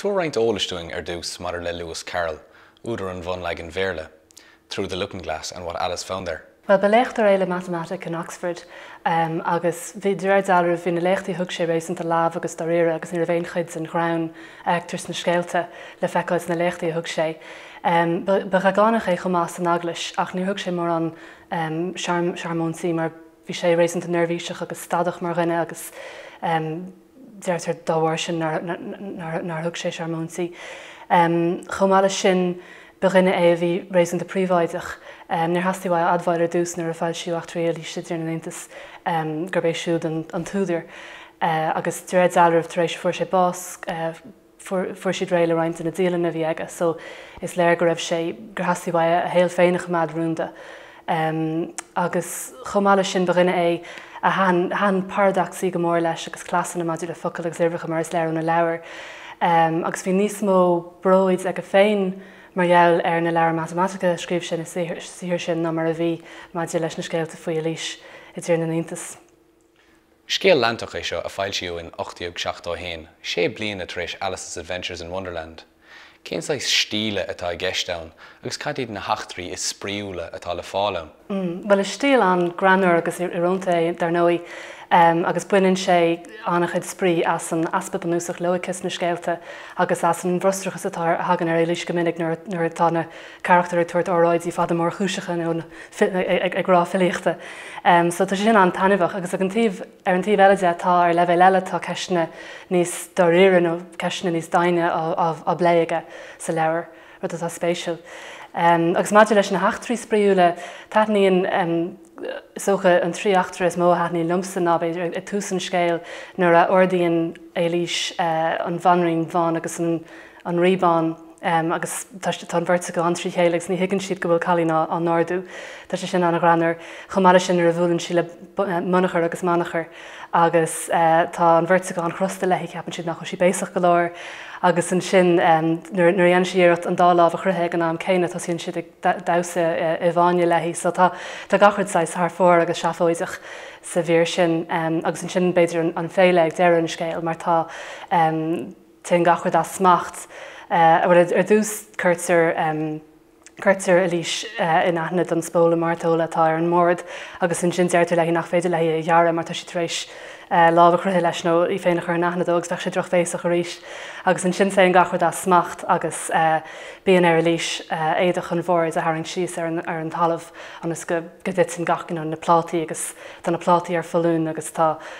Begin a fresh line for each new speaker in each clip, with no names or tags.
Tabhair roinnt eolais dúinn ar dtús maidir le Lewis Carroll, údar an bhunleagain Bhéarla, Through the Looking-Glass and What Alice Found There. Bhuel, ba léachtóir é le
matamaitic in Oxford agus bhí, de réir dealraimh, bhí na léachtaí a thug sé réasúnta leamh agus dáiríre agus ní raibh aon chuid den ghreann a fheictear sna scéalta le feiceáil sna léachtaí a thug sé. Ba dheagánach é chomh maith san eaglais ach níor thug sé mórán searmóintaí mar bhí sé réasúnta neirbhíseach agus stadach mar dhuine agus, deirtear dá bharr sin nár thug sé searmóintí. Chomh maith leis sin, ba dhuine é a bhí réasúnta príobháideach. Níor theastaigh uaidh a admháil ar dtús nuair a foilsíodh Eachtraí Eilíse i dTír na nIontas gurb é siúd an t-údar agus de réir dealraimh tar éis a fuair sé bás, fuair siad réidh le roinnt de na dialanna a bhí aige so is léir go raibh sé, gur theastaigh uaidh a shaol féin a choimeád rúnda. Agus chomh maith leis sin, ba dhuine é a thaitin paradacsaí go mór leis agus cleasanna maidir le focail agus uimhreacha mar is léir óna leabhair. Agus bhí níos mó bróid aige féin mar gheall ar na leabhair mhatamaitice a scríobh sé na saothar sin ná mar a bhí maidir leis na scéalta faoi Eilís i dTír na nIontas.
Scéal leantach é seo a foilsíodh in 1871, sé bliana tar éis Alice's Adventures in Wonderland. Cén saghas stíl atá i gceist ann agus cad iad na heachtraí is spraíúla atá le fáil ann? Bhuel, is
stíl an-ghreannmhar agus íorónta é, dar ndóigh, agus baineann sé an-chuid spraoi as an easpa bunúsach loighice sna scéalta agus as an bhfrustrachas atá, a thagann ar Eilís go minic nuair atá na. carachtair ag tabhairt óráidí fada mórchúiseacha nó ag rá filíochta. So tá sé sin an-taitneamhach agus ar an taobh eile de tá, ar leibhéal eile, tá ceisteanna níos dáiríre nó ceisteanna níos doimhne á bplé aige sa leabhar, rud atá spéisiúil. Agus maidir leis na heachtraí spraíúla, taitníonn, is dócha, an trí eachtra is mó a thaitníonn liomsa ná, b'fhéidir, ag tús an scéil nuair a ardaíonn Eilís an bhanríon bhán agus an an Rí Bán agus tá an bheirt acu an-trí chéile agus ní thuigeann siad go bhfuil cailín á n-ardú. Tá sé sin an-ghreannmhar. Chomh maith leis sin nuair a bhuaileann sí le Munachar agus Manachar agus tá an bheirt acu an-chrosta léi, ceapann siad nach bhfuil sí béasach go leor agus ansin nuair a dhéanann sí iarracht an dá lámh a chroitheadh ag an am céanna tosaíonn siad ag damhsa i bhfáinne léi. So tá gach rud saghas thar fóir agus seafóideach sa mhír sin agus ansin b'fhéidir an féile ag deireadh an scéil mar tá Téann gach rud as smacht. Bhuel, ar dtús, cuirtear, cuirtear Eilís in aithne don spóla mairteola atá ar an mbord agus ansin deirtear léi nach féidir léi é a ghearradh mar tá sí tar éis lámh a chroitheadh leis nó í féin a chur in aithne dó agus bheadh sé drochbhéasach arís. Agus ansin téann gach rud as smacht agus bíonn ar Eilís éadach an bhoird a tharraingt síos ar an, ar an talamh ionas go, go dtiteann gach, you know, na plátaí agus tá na plátaí ar foluain agus tá,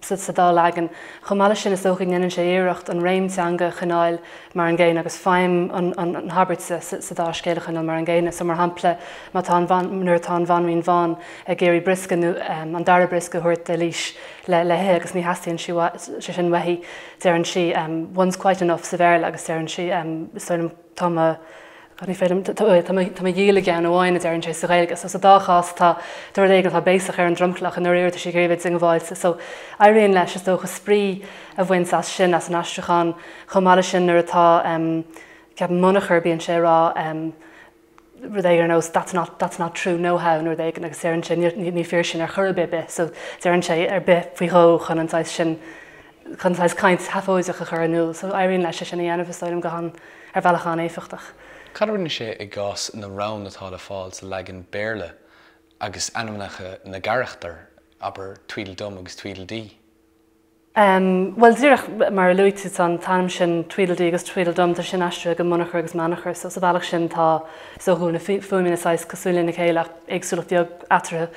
sa dá leagan. Chomh maith leis sin, is dócha go ndéanann sé iarracht an réim teanga a choinneáil mar an gcéanna agus feidhm na habairte sa dá scéal a choinneáil mar an gcéanna. So, mar shampla, má tá an, nuair atá an bhanríon bhán ag iarraidh briosca nó an dara briosca a thabhairt d'Eilís le le hithe agus ní theastaíonn sé sin uaithi, deireann sí one's quite enough sa Bhéarla agus deireann sí is dóigh liom. tá mo b'fhéidir tá mo dhíol i gceann amháin a deirann sé sa Ghaeilge. So sa dá chás tá rud éigin atá béasach ar an dromchlach i ndáiríre tá sé go hiomlán diongbháilte. So éiríonn leis is dócha spraoi a bhaint as sin as an aistriúchán chomh maith leis sin nuair atá ehm ceapaim Munachar bíonn sé ag rá ehm rud éigin ar nós that's not that's not true no how nó rud éigin agus deireann sé ní fíor sin ar chor ar bith bith so deireann sé ar bith faoi dhó chun an saghas sin chun saghas caint seafóideach a chur in iúl, so éiríonn leis é sin a dhéanamh, is dóigh liom, go han, ar bhealach an-éifeachtach. Cad a rinne sé
i gcás na rann atá le fáil sa leagan Béarla agus ainmneacha na gcarachtar, abair Tweedledum agus Tweedledee?
Bhuel, díreach mar a luaigh tú, tá an t-ainm sin Tweedledee agus Tweedledum, tá sin aistrithe go Munachar agus Meanachar, so sa bhealach sin tá, is dócha go bhfuil na fuaimeanna saghas cosúil lena chéile ach éagsúlacht bheag eatarthu,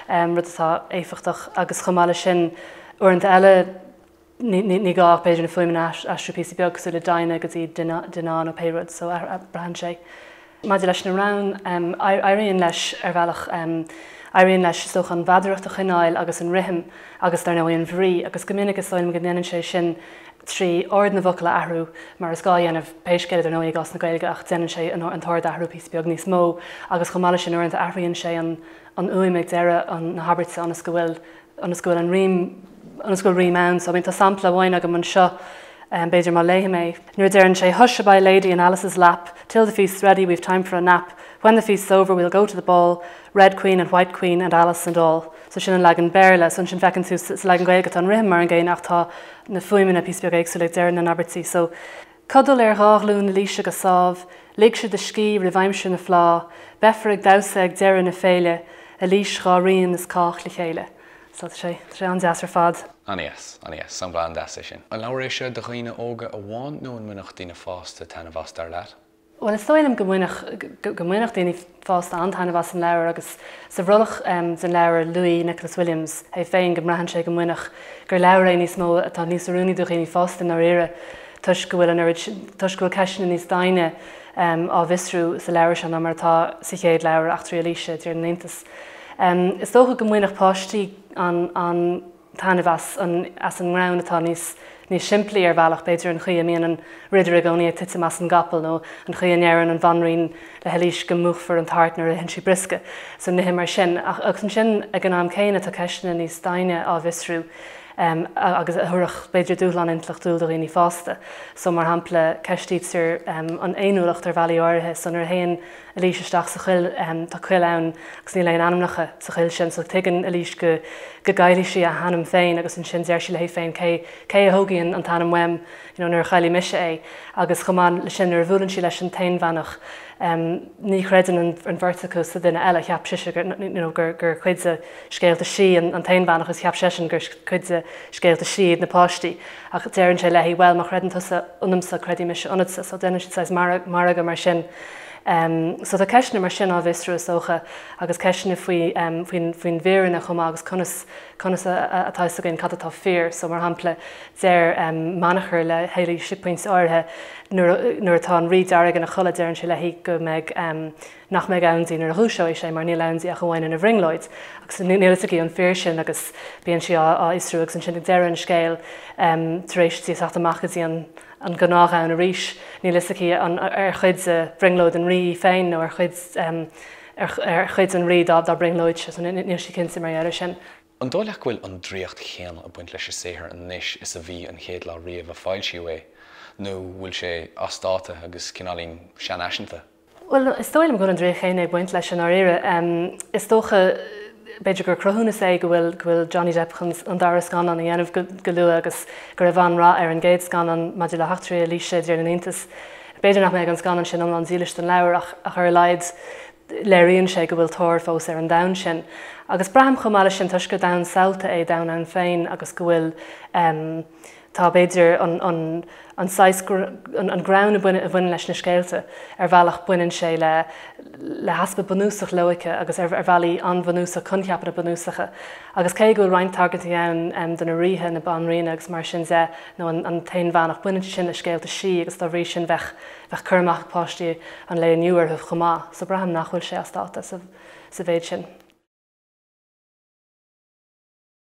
rud atá éifeachtach agus chomh maith leis sin, Uaireanta eile, ní gá ach b'fhéidir na fuaimeanna a aistriú píosa beag cosúil le Dinah go dtí Dinah nó pé rud so braitheann sé. Maidir leis na rainn, éiríonn leis, ar bhealach, éiríonn leis is dócha an mheadaracht a choinneáil agus an rithim agus, dar ndóigh, an bhrí agus go minic is dóigh liom go ndéanann sé sin trí ord na bhfocal a athrú mar is gá a dhéanamh, pé scéal é, dar ndóigh, i gcás na Gaeilge ach déanann sé an t-ord a athrú píosa beag níos mó agus chomh maith leis sin uaireanta athraíonn sé an fhuaim ag deireadh na habairte ionas go bhfuil ionas go bhfuil an rím, ionas go bhfuil rím ann. So I mean tá sampla amháin agam anseo, b'fhéidir má léim é, nuair a deireann sé Hush a by lady in Alice's lap, Till the feast's ready we've time for a nap, When the feast's over we'll go to the ball, Red queen and white queen and Alice and all. So sin an leagan Béarla. So ansin feiceann tú sa leagan Gaeilge tá an rithim mar an gcéanna ach tá na fuaimeanna píosa beag éagsúil ag deireadh na n-abairtí. So Codail ar dhá ghlúin Ailíse go sámh, ligse do scíth roimh aimsir na fleá, beifear ag damhsa ag deireadh na féile, Ailís, dhá ríon is cách le chéile. So, tá sé, tá sé an-deas ar fad. Ana dheas, ana
dheas, sampla an-deas é sin. An leabhar é seo do dhaoine óga amháin nó an mbainfeadh daoine fásta taitneamh as dar leat? Bhuel, is dóigh liom
go mbainfeadh, go mbainfeadh daoine fásta an-taitneamh as an leabhar agus sa bhrollach den leabhar luaigh Nicholas Williams é féin go mbraitheann sé go mbainfeadh, gur leabhar é níos mó atá níos oiriúnaí do dhaoine fásta i ndáiríre toisc go bhfuil an oiread sin, toisc go bhfuil ceisteanna níos doimhne á bhfiosrú sa leabhar seo ná mar atá sa chéad leabhar Eachtraí Eilíse, i dTír na nIontas. Is dócha go mbainfeadh páistí an. taitneamh as an as an ngreann atá níos níos simplí ar bhealach, b'fhéidir, an chaoi a mbíonn an ridire i gcónaí ag titim den gcapall nó an chaoi a ndeireann an bhanríon le hEilís go múchfar an tart nuair a itheann sí briosca. So nithe mar sin. Ach agus ansin ag an am céanna tá ceisteanna níos doimhne á bhfiosrú em agus a thabharfadh b'fhéidir dúshlán intleachtúil do dhaoine fásta. So mar shampla ceistítear em an fhéiniúlacht ar bhealaí áirithe so nuair a théann Eilís isteach sa choill. Tá coill ann agus níl aon ainmneacha sa choill sin so tuigeann Eilís go gcaillfidh sí a hainm féin agus ansin deir sí léi féin cé cé a thógfaidh an t-ainm uaim you know nuair a chaillfidh mise é agus chomh maith leis sin nuair a bhuaileann sí leis an aonbheannach ní chreideann an bheirt acu sa duine eile cheap sise gur you know gur gur cuid de scéalta sí an t-aonbheannach agus cheap seisean gur cuid de scéalta sí iad na páistí ach deireann sé léi bhuel má chreideann tusa ionamsa creidfidh mise ionatsa so déanann siad saghas margadh mar sin. So tá ceisteanna mar sin á bhfiosrú, is dócha, agus ceisteanna faoin bhfírinne chomh maith agus conas atá fhios againn cad atá fíor. So, mar shampla, deir Manachar le hEilís ag pointe áirithe nuair atá an Rí Dearg ina chodladh, deireann sé léi go mbeidh, nach mbeidh ann di nuair a dhúiseoidh sé mar níl ann di ach amháin ina bhrionglóid. Agus níl fhios aici an fíor sin agus bíonn sí á fhiosrú agus ansin ag deireadh an scéil tar éis di a theacht amach go dtí an an gnáthdhomhan arís. Níl fhios aici an ar chuid de bhrionglóid an Rí í féin nó ar chuid ar chuid an Rí dá brionglóid sise. Níl sí cinnte mar gheall ar sin. An dóigh leat go bhfuil
an draíocht chéanna ag baint leis a saothar anois is a bhí an chéad lá riamh a foilsíodh é nó bhfuil sé as dáta agus cineáilín seanfhaiseanta? Bhuel, is dóigh
liom go bhfuil an draíocht chéanna ag baint leis i ndáiríre. Is dócha, b'fhéidir, gur cruthúnas é go bhfuil Johnny Depp chun an dara scannán a dhéanamh go luath agus go raibh an-rath ar an gcéad scannán maidir le heachtraí Eilíse i dTír na nIontas. B'fhéidir nach mbeidh an scannán sin iomlán dílis don leabhar ach ar a laghad léiríonn sé go bhfuil tóir fós ar an domhan sin. Agus braithim chomh maith leis sin, toisc gur domhan samhalta é domhan ann féin agus go bhfuil, Tá, b'fhéidir, an saghas, an greann a bhaineann leis na scéalta, ar bhealach, baineann sé le heaspa bunúsach loighce agus ar bhealaí an-bhunúsach coincheapanna bunúsacha. Agus cé go bhfuil roinnt tagairtí ann do na ríthe, na banríona agus mar sin de, nó an t-aonbheannach, baineann siad sin le scéalta sí agus dá bhrí sin bheadh cur amach ag páistí an lae inniu orthu chomh maith. So braithim nach bhfuil sé as dáta sa mhéid sin.